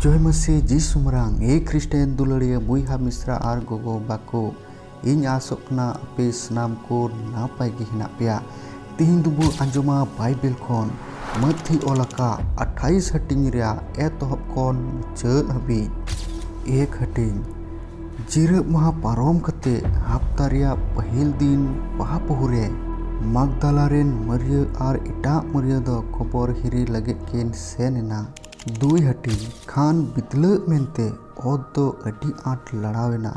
ᱡᱚᱭ ᱢᱟᱹᱥᱤ ᱡᱤᱥᱩᱢᱨᱟᱝ ᱮ ᱠᱷᱨᱤᱥᱴᱮᱱ ᱫᱩᱞᱟᱹᱲᱤᱭᱟᱹ ᱵᱚᱭᱦᱟ ᱢᱤᱥᱨᱟ ᱟᱨ ᱜᱚᱜᱚ ᱵᱟᱠᱚ ᱤᱧ ᱟᱥᱚᱜ ᱠᱟᱱᱟ ᱟᱯᱮ ᱥᱟᱱᱟᱢ ᱠᱚ ᱱᱟᱯᱟᱭ ᱜᱮ ᱦᱮᱱᱟᱜ ᱯᱮᱭᱟ ᱛᱤᱦᱤᱧ ᱫᱚᱵᱚ ᱟᱸᱡᱚᱢᱟ ᱵᱟᱭᱵᱮᱞ ᱠᱷᱚᱱ ᱢᱟᱹᱛᱷᱤ ᱚᱞ ᱟᱠᱟᱫ ᱟᱴᱷᱟᱭᱤᱥ ᱦᱟᱹᱴᱤᱧ ᱨᱮᱭᱟᱜ ᱮᱛᱚᱦᱚᱵ ᱠᱷᱚᱱ ᱢᱩᱪᱟᱹᱫ ᱦᱟᱹᱵᱤᱡ ᱮᱠ ᱦᱟᱹᱴᱤᱧ ᱡᱤᱨᱟᱹᱜ ᱢᱟᱦᱟ ᱯᱟᱨᱚᱢ ᱠᱟᱛᱮ ᱦᱟᱯᱛᱟ ᱨᱮᱭᱟᱜ ᱯᱟᱹᱦᱤᱞ ᱫᱤᱱ ᱵᱟᱦᱟ ᱯᱩᱦᱩ ᱨᱮ ᱢᱟᱜᱽᱫᱟᱞᱟ ᱨᱮᱱ ᱢᱟᱹᱨᱭᱟᱹ ᱟᱨ ᱮᱴᱟᱜ ᱢᱟᱹᱨᱭᱟᱹ ᱫᱚ ᱠᱚᱵᱚᱨ ᱦᱤᱨᱤ ᱞᱟᱹᱜᱤᱫ ᱠᱤᱱ ᱥᱮᱱ ᱮᱱᱟ ᱫᱩᱭ ᱦᱟᱹᱴᱤᱧ ᱠᱷᱟᱱ ᱵᱤᱛᱞᱟᱹᱜ ᱢᱮᱱᱛᱮ ᱚᱛ ᱫᱚ ᱟᱹᱰᱤ ᱟᱸᱴ ᱞᱟᱲᱟᱣ ᱮᱱᱟ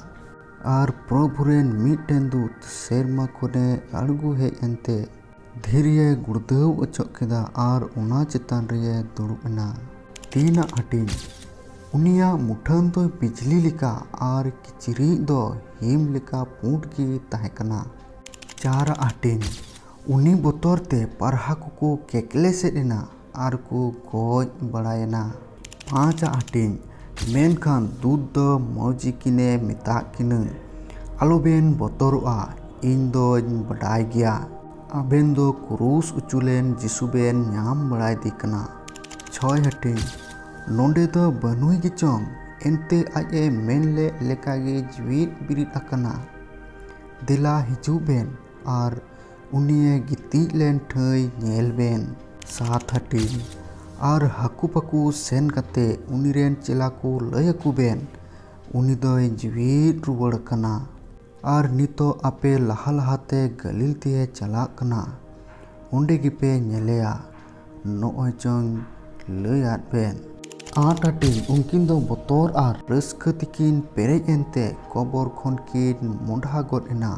ᱟᱨ ᱯᱨᱚᱵᱷᱩ ᱨᱮᱱ ᱢᱤᱫᱴᱮᱱ ᱫᱩᱛ ᱥᱮᱨᱢᱟ ᱠᱷᱚᱱᱮ ᱟᱬᱜᱚ ᱦᱮᱡ ᱮᱱᱛᱮ ᱫᱷᱤᱨᱤᱭᱮ ᱜᱩᱲᱫᱟᱹᱣ ᱚᱪᱚᱜ ᱠᱮᱫᱟ ᱟᱨ ᱚᱱᱟ ᱪᱮᱛᱟᱱ ᱨᱮᱭᱮ ᱫᱩᱲᱩᱵ ᱮᱱᱟ᱾ ᱛᱤᱱᱟᱜ ᱦᱟᱹᱴᱤᱧ᱾ ᱩᱱᱤᱭᱟᱜ ᱢᱩᱴᱷᱟᱹᱱ ᱫᱚ ᱵᱤᱡᱽᱞᱤ ᱞᱮᱠᱟ ᱟᱨ ᱠᱤᱪᱨᱤᱡ ᱫᱚ ᱦᱤᱢ ᱞᱮᱠᱟ ᱯᱩᱸᱰ ᱜᱮ ᱛᱟᱦᱮᱸ ᱠᱟᱱᱟ᱾ ᱪᱟᱨᱟᱜ ᱦᱟᱹᱴᱤᱧ᱾ ᱩᱱᱤ ᱵᱚᱛᱚᱨ ᱛᱮ ᱯᱟᱨᱦᱟ ᱠᱚᱠᱚ ᱠᱮᱠᱞᱮᱥᱮᱫ ᱮᱱᱟ᱾ ᱟᱨ ᱠᱚ ᱜᱚᱡ ᱵᱟᱲᱟᱭᱮᱱᱟ ᱯᱟᱸᱪ ᱟᱜ ᱦᱟᱹᱴᱤᱧ ᱢᱮᱱᱠᱷᱟᱱ ᱫᱩᱛ ᱫᱚ ᱢᱟᱹᱡᱷᱤ ᱠᱤᱱ ᱮ ᱢᱮᱛᱟᱫ ᱠᱤᱱᱟᱹ ᱟᱞᱚ ᱵᱮᱱ ᱵᱚᱛᱚᱨᱚᱜᱼᱟ ᱤᱧ ᱫᱚᱧ ᱵᱟᱰᱟᱭ ᱜᱮᱭᱟ ᱟᱵᱮᱱ ᱫᱚ ᱠᱨᱩᱥ ᱚᱪᱚ ᱞᱮᱱ ᱡᱤᱥᱩ ᱵᱮᱱ ᱧᱟᱢ ᱵᱟᱲᱟᱭᱮᱫᱮ ᱠᱟᱱᱟ ᱪᱷᱚᱭ ᱦᱟᱹᱴᱤᱧ ᱱᱚᱰᱮ ᱫᱚ ᱵᱟᱹᱱᱩᱭ ᱜᱮᱪᱚᱝ ᱮᱱᱛᱮ ᱟᱡ ᱮ ᱢᱮᱱ ᱞᱮᱫ ᱞᱮᱠᱟ ᱜᱮ ᱡᱤᱣᱮᱫ ᱵᱮᱨᱮᱫ ᱟᱠᱟᱱᱟ ᱫᱮᱞᱟ ᱦᱤᱡᱩᱜ ᱵᱮᱱ ᱟᱨ ᱩᱱᱤᱭᱮ ᱜᱤᱛᱤᱡ ᱞᱮᱱ ᱴᱷᱟᱹᱭ ᱧᱮᱞ ᱵᱮᱱ ᱥᱟᱛ ᱦᱟᱹᱴᱤᱧ ᱟᱨ ᱦᱟᱹᱠᱩ ᱯᱟᱹᱠᱩ ᱥᱮᱱ ᱠᱟᱛᱮ ᱩᱱᱤ ᱨᱮᱱ ᱪᱮᱞᱟ ᱠᱚ ᱞᱟᱹᱭ ᱟᱠᱚ ᱵᱮᱱ ᱩᱱᱤ ᱫᱚᱭ ᱡᱤᱣᱮᱫ ᱨᱩᱣᱟᱹᱲ ᱟᱠᱟᱱᱟ ᱟᱨ ᱱᱤᱛᱚᱜ ᱟᱯᱮ ᱞᱟᱦᱟ ᱞᱟᱦᱟᱛᱮ ᱜᱟᱹᱞᱤᱞ ᱛᱮᱭᱮ ᱪᱟᱞᱟᱜ ᱠᱟᱱᱟ ᱚᱸᱰᱮ ᱜᱮᱯᱮ ᱧᱮᱞᱮᱭᱟ ᱱᱚᱜᱼᱚᱭ ᱪᱚᱝ ᱞᱟᱹᱭ ᱟᱫ ᱯᱮ᱾ ᱟᱸᱴ ᱟᱹᱴᱤᱧ ᱩᱱᱠᱤᱱ ᱫᱚ ᱵᱚᱛᱚᱨ ᱟᱨ ᱨᱟᱹᱥᱠᱟᱹ ᱛᱮᱠᱤᱱ ᱯᱮᱨᱮᱡ ᱮᱱᱛᱮ ᱠᱚᱵᱚᱨ ᱠᱷᱚᱱ ᱠᱤᱱ ᱢᱚᱸᱰᱷᱟ ᱜᱚᱫ ᱮᱱᱟ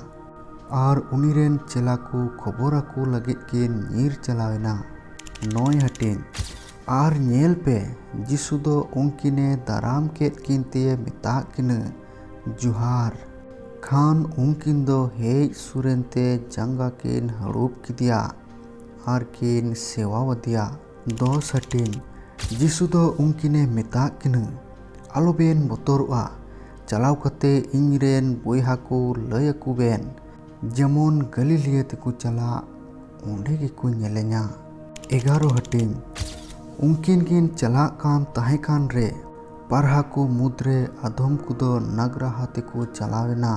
ᱟᱨ ᱩᱱᱤ ᱨᱮᱱ ᱪᱮᱞᱟ ᱠᱚ ᱠᱷᱚᱵᱚᱨ ᱟᱠᱚ ᱞᱟᱹᱜᱤᱫ ᱠᱤᱱ ᱧᱤᱨ ᱪᱟᱞᱟᱣ ᱮᱱᱟ᱾ ᱱᱚᱭ ᱦᱟᱹᱴᱤᱧ᱾ ᱟᱨ ᱧᱮᱞ ᱯᱮ ᱡᱤᱥᱩ ᱫᱚ ᱩᱱᱠᱤᱱᱮ ᱫᱟᱨᱟᱢ ᱠᱮᱫ ᱠᱤᱱ ᱛᱮᱭᱮ ᱢᱮᱛᱟᱫ ᱠᱤᱱᱟᱹ, ᱡᱚᱦᱟᱨ᱾ ᱠᱷᱟᱱ ᱩᱱᱠᱤᱱ ᱫᱚ ᱦᱮᱡ ᱥᱩᱨ ᱮᱱᱛᱮ ᱡᱟᱸᱜᱟ ᱠᱤᱱ ᱦᱟᱹᱲᱩᱵ ᱠᱮᱫᱮᱭᱟ᱾ ᱟᱨ ᱠᱤᱱ ᱥᱮᱣᱟᱣᱟᱫᱮᱭᱟ᱾ ᱫᱚᱥ ᱦᱟᱹᱴᱤᱧ ᱡᱤᱥᱩ ᱫᱚ ᱩᱱᱠᱤᱱᱮ ᱢᱮᱛᱟᱫ ᱠᱤᱱᱟ, ᱟᱞᱚᱵᱮᱱ ᱵᱚᱛᱚᱨᱚᱜᱼᱟ᱾ ᱪᱟᱞᱟᱣ ᱠᱟᱛᱮ ᱤᱧ ᱨᱮᱱ ᱵᱚᱭᱦᱟ ᱠᱚ ᱞᱟᱹᱭ ᱟᱠᱚ ᱵᱮᱱ, ᱡᱮᱢᱚᱱ ᱜᱟᱞᱤᱞᱤᱭᱟ ᱛᱮᱠᱚ ᱪᱟᱞᱟᱜ, ᱚᱸᱰᱮ ᱜᱮᱠᱚ ᱧᱮᱞᱮᱧᱟ᱾ ᱮᱜᱟᱨᱚ ᱦᱟᱹᱴᱤᱧ ᱩᱱᱠᱤᱱ ᱠᱤᱱ ᱪᱟᱞᱟᱜ ᱠᱟᱱ ᱛᱟᱦᱮᱸ ᱠᱟᱱ ᱨᱮ, ᱯᱟᱨᱦᱟ ᱠᱚ ᱢᱩᱫᱽ ᱨᱮ ᱟᱫᱷᱚᱢ ᱠᱚᱫᱚ ᱱᱟᱜᱽᱨᱟᱦᱟ ᱛᱮᱠᱚ ᱪᱟᱞᱟᱣ ᱮᱱᱟ᱾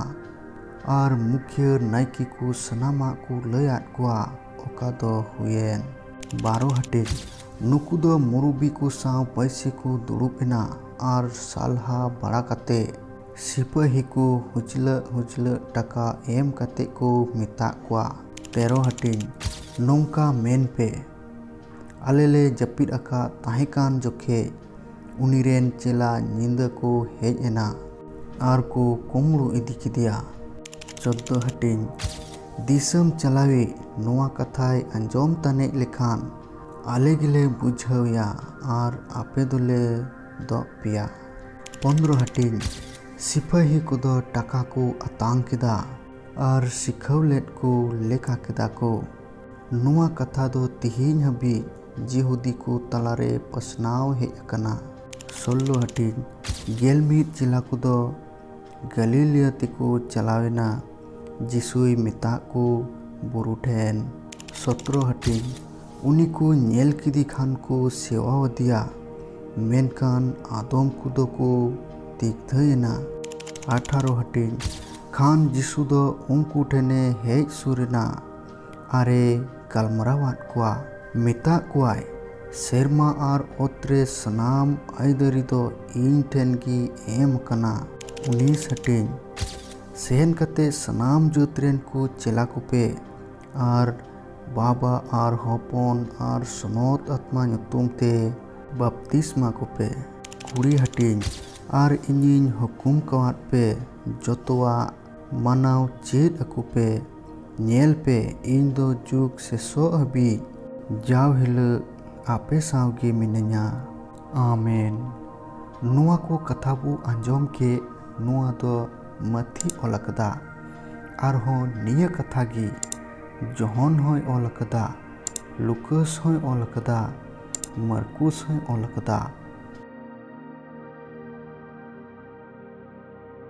ᱟᱨ ᱢᱩᱠᱷᱤᱭᱟᱹ ᱱᱟᱭᱠᱮ ᱠᱚ ᱥᱟᱱᱟᱢᱟᱜ ᱠᱚ ᱞᱟᱹᱭ ᱟᱫ ᱠᱚᱣᱟ ᱚᱠᱟ ᱫᱚ ᱦᱩᱭᱮᱱ᱾ ᱵᱟᱨᱚ ᱦᱟᱹᱴᱤᱧ ᱱᱩᱠᱩ ᱫᱚ ᱢᱩᱨᱩᱵᱤ ᱠᱚ ᱥᱟᱶ ᱯᱟᱹᱭᱥᱤ ᱠᱚ ᱫᱩᱲᱩᱵ ᱮᱱᱟ ᱟᱨ ᱥᱟᱞᱦᱟ ᱵᱟᱲᱟ ᱠᱟᱛᱮ ᱥᱤᱯᱟᱹᱦᱤ ᱠᱚ ᱦᱩᱪᱞᱟᱹᱜ ᱦᱩᱪᱞᱟᱹᱜ ᱴᱟᱠᱟ ᱮᱢ ᱠᱟᱛᱮ ᱠᱚ ᱢᱮᱛᱟᱜ ᱠᱚᱣᱟ ᱛᱮᱨᱚ ᱦᱟᱹᱴᱤᱧ ᱱᱚᱝᱠᱟ ᱢᱮᱱ ᱯᱮ᱾ ᱟᱞᱮ ᱞᱮ ᱡᱟᱹᱯᱤᱫ ᱟᱠᱟᱫ ᱛᱟᱦᱮᱸ ᱠᱟᱱ ᱡᱚᱠᱷᱮᱡ ᱩᱱᱤ ᱨᱮᱱ ᱪᱮᱞᱟ ᱧᱤᱫᱟᱹ ᱠᱚ ᱦᱮᱡ ᱮᱱᱟ ᱟᱨ ᱠᱚ ᱠᱩᱢᱵᱽᱲᱩ ᱤᱫᱤ ᱠᱮᱫᱮᱭᱟ᱾ ᱪᱚᱫᱫᱚ ᱦᱟᱹᱴᱤᱧ ᱫᱤᱥᱟᱹᱢ ᱪᱟᱞᱟᱣᱤᱡ ᱱᱚᱣᱟ ᱠᱟᱛᱷᱟᱭ ᱟᱸᱡᱚᱢ ᱛᱟᱱᱮᱡ ᱞᱮᱠᱷᱟᱱ ᱟᱞᱮ ᱜᱮᱞᱮ ᱵᱩᱡᱷᱟᱹᱣ ᱮᱭᱟ ᱟᱨ ᱟᱯᱮ ᱫᱚᱞᱮ ᱫᱚᱜ ᱯᱮᱭᱟ᱾ ᱯᱚᱱᱫᱨᱚ ᱦᱟᱹᱴᱤᱧ ᱥᱤᱯᱟᱹᱦᱤ ᱠᱚᱫᱚ ᱴᱟᱠᱟ ᱠᱚ ᱟᱛᱟᱝ ᱠᱮᱫᱟ ᱟᱨ ᱥᱤᱠᱷᱟᱹᱣ ᱞᱮᱫ ᱠᱚ ᱞᱮᱠᱟ ᱠᱮᱫᱟ ᱠᱚ᱾ ᱱᱚᱣᱟ ᱠᱟᱛᱷᱟ ᱫᱚ ᱛᱤᱦᱤᱧ ᱦᱟᱹᱵᱤᱡ ᱡᱤᱦᱩᱫᱤ ᱠᱚ ᱛᱟᱞᱟᱨᱮ ᱯᱟᱥᱱᱟᱣ ᱦᱮᱡ ᱟᱠᱟᱱᱟ᱾ ᱥᱳᱞᱞᱳ ᱦᱟᱹᱴᱤᱧ, ᱜᱮᱞ ᱢᱤᱫ ᱪᱮᱞᱟ ᱠᱚᱫᱚ ᱜᱟᱞᱤᱞᱤᱭᱟ ᱛᱮᱠᱚ ᱪᱟᱞᱟᱣ ᱮᱱᱟ ᱡᱤᱥᱩᱭ ᱢᱮᱛᱟᱜ ᱠᱚ ᱵᱩᱨᱩ ᱴᱷᱮᱱ᱾ ᱥᱚᱛᱨᱚ ᱦᱟᱹᱴᱤᱧ, ᱩᱱᱤ ᱠᱚ ᱧᱮᱞ ᱠᱮᱫᱮ ᱠᱷᱟᱱ ᱠᱚ ᱥᱮᱣᱟ ᱟᱫᱮᱭᱟ, ᱢᱮᱱᱠᱷᱟᱱ ᱟᱫᱚᱢ ᱠᱚᱫᱚ ᱠᱚ ᱫᱤᱜᱫᱷᱟᱹ ᱮᱱᱟ᱾ ᱟᱴᱷᱟᱨᱚ ᱦᱟᱹᱴᱤᱧ, ᱠᱷᱟᱱ ᱡᱤᱥᱩ ᱫᱚ ᱩᱱᱠᱩ ᱴᱷᱮᱱᱮ ᱦᱮᱡ ᱥᱩᱨ ᱮᱱᱟ᱾ ᱟᱨᱮ ᱜᱟᱞᱢᱟᱨᱟᱣᱟᱫ ᱠᱚᱣᱟ᱾ ᱢᱮᱛᱟᱜ ᱠᱚᱣᱟᱭ, ᱥᱮᱨᱢᱟ ᱟᱨ ᱚᱛ ᱨᱮ ᱥᱟᱱᱟᱢ ᱟᱹᱭᱫᱟᱹᱨᱤ ᱫᱚ ᱤᱧ ᱴᱷᱮᱱ ᱜᱮ ᱮᱢ ᱟᱠᱟᱱᱟ᱾ ᱩᱱᱤ ᱥᱟᱹᱴᱤᱧ ᱥᱮᱱ ᱠᱟᱛᱮ ᱥᱟᱱᱟᱢ ᱡᱟᱹᱛ ᱨᱮᱱ ᱠᱚ ᱪᱮᱞᱟ ᱠᱚᱯᱮ ᱟᱨ ᱵᱟᱵᱟ ᱟᱨ ᱦᱚᱯᱚᱱ ᱟᱨ ᱥᱚᱱᱚᱛ ᱟᱛᱢᱟ ᱧᱩᱛᱩᱢ ᱛᱮ ᱵᱟᱯᱛᱤᱥᱢᱟ ᱠᱚᱯᱮ᱾ ᱠᱩᱲᱤ ᱦᱟᱹᱴᱤᱧ ᱟᱨ ᱤᱧᱤᱧ ᱦᱩᱠᱩᱢ ᱠᱟᱣᱟᱫ ᱯᱮ ᱡᱚᱛᱚᱣᱟᱜ ᱢᱟᱱᱟᱣ ᱪᱮᱫ ᱟᱠᱚ ᱯᱮ᱾ ᱧᱮᱞ ᱯᱮ ᱤᱧ ᱫᱚ ᱡᱩᱜᱽ ᱥᱮᱥᱚᱜ ᱦᱟᱹᱵᱤᱡ᱾ ᱡᱟᱣ ᱦᱤᱞᱟᱹᱜ ᱟᱯᱮ ᱥᱟᱶ ᱜᱮ ᱢᱤᱱᱟᱹᱧᱟ᱾ ᱟᱢᱮᱱ᱾ ᱱᱚᱣᱟ ᱠᱚ ᱠᱟᱛᱷᱟ ᱵᱚ ᱟᱸᱡᱚᱢ ᱠᱮᱫ ᱱᱚᱣᱟ ᱫᱚ ᱢᱟᱹᱛᱷᱤ ᱚᱞ ᱟᱠᱟᱫᱟ᱾ ᱟᱨᱦᱚᱸ ᱱᱤᱭᱟᱹ ᱠᱟᱛᱷᱟ ᱜᱮ ᱡᱚᱦᱚᱱ ᱦᱚᱸᱭ ᱚᱞ ᱟᱠᱟᱫᱟ, ᱞᱩᱠᱟᱹᱥ ᱦᱚᱸᱭ ᱚᱞ ᱟᱠᱟᱫᱟ, ᱢᱟᱨᱠᱩᱥ ᱦᱚᱸᱭ ᱚᱞ ᱟᱠᱟᱫᱟ᱾